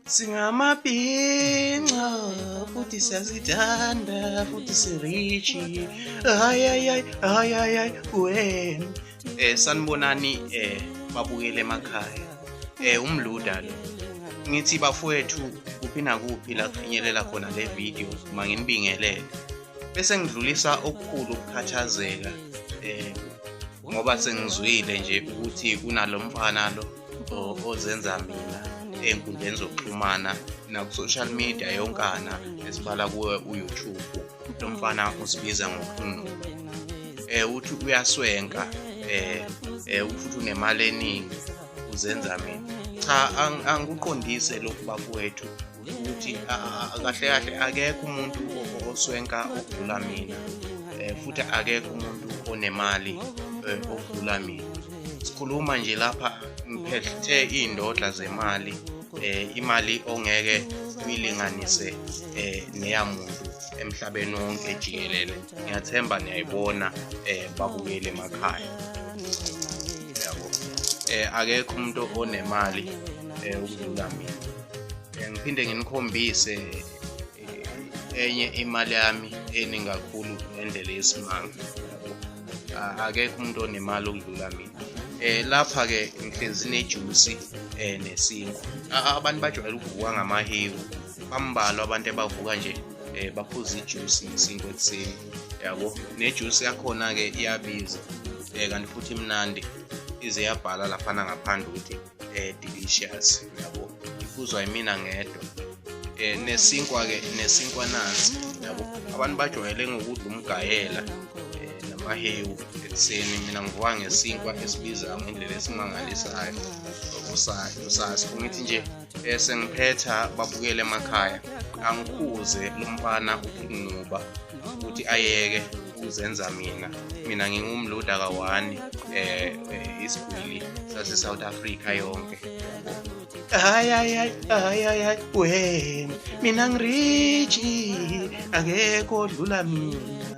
singamabhinca futhi siyazithanda futhi sirichi hayayayi hayayayi wen um eh, sanibonani um eh, babukele emakhaya um eh, umluda lo ngithi bafowethu kuphi nakuphi la kufinyelela khona le video uma nginibingelele bese ngidlulisa okukhulu ukukhathazeka um ngoba sengizwile nje ukuthi kunalo mfana lo ozenza mina ey'nkundleni zokuxhumana naku-social media yonkana esibala kuwe uyoutube lo mfana uzibiza ngokhunu um eh, uthi uyaswenka um futhi unemali eningi uzenza mina cha angikuqondise lokhu bakwethu ukuthi kahle kahle akekho umuntu oswenka okudlula mina eh, futhi akekho umuntu onemali eh, okudlula mina sikhuluma nje lapha ngiphethe iy'ndodla zemali eh, imali ongeke uyilinganise eh, neyamuntu emhlabeni wonke jikelele ngiyathemba niyayibona eh, babukeli emakhaya eh, akekho umuntu onemali eh, ukudlula mina eh, ngiphinde nginikhombise eh, enye imali yami eningi kakhulu ngendlela yesimanga ah, akekho umuntu onemali okudlula mina eh lapha ke ngihlezi nejuice eh nesinkwa ah, abantu bajwayele ukuvuka ngamahewu bambalwa abantu ebavuka nje eh baphuza ijuice nesinkwa ekuseni yabo nejuice yakhona ke iyabiza eh kanti futhi imnandi ize yabhala laphana ngaphandle ukuthi eh delicious yabo iphuzwa yimina ngedwa eh nesinkwa ke nesinkwa nansi yabo abantu bajwayele ngokudla umgayela eh, namahewu ekuseni mina ngivuka ngesinkwa esibiza ngendlela esimangalisayo usasi kungithi nje eh, sengiphetha babukele emakhaya angikhuze umfana ukunquba ukuthi ayeke uzenza mina mina ngingumluda kawani eh, eh isigwili sase South Africa yonke hayi hayi hayi hayi hayi we mina ngiriji akekho dlula mina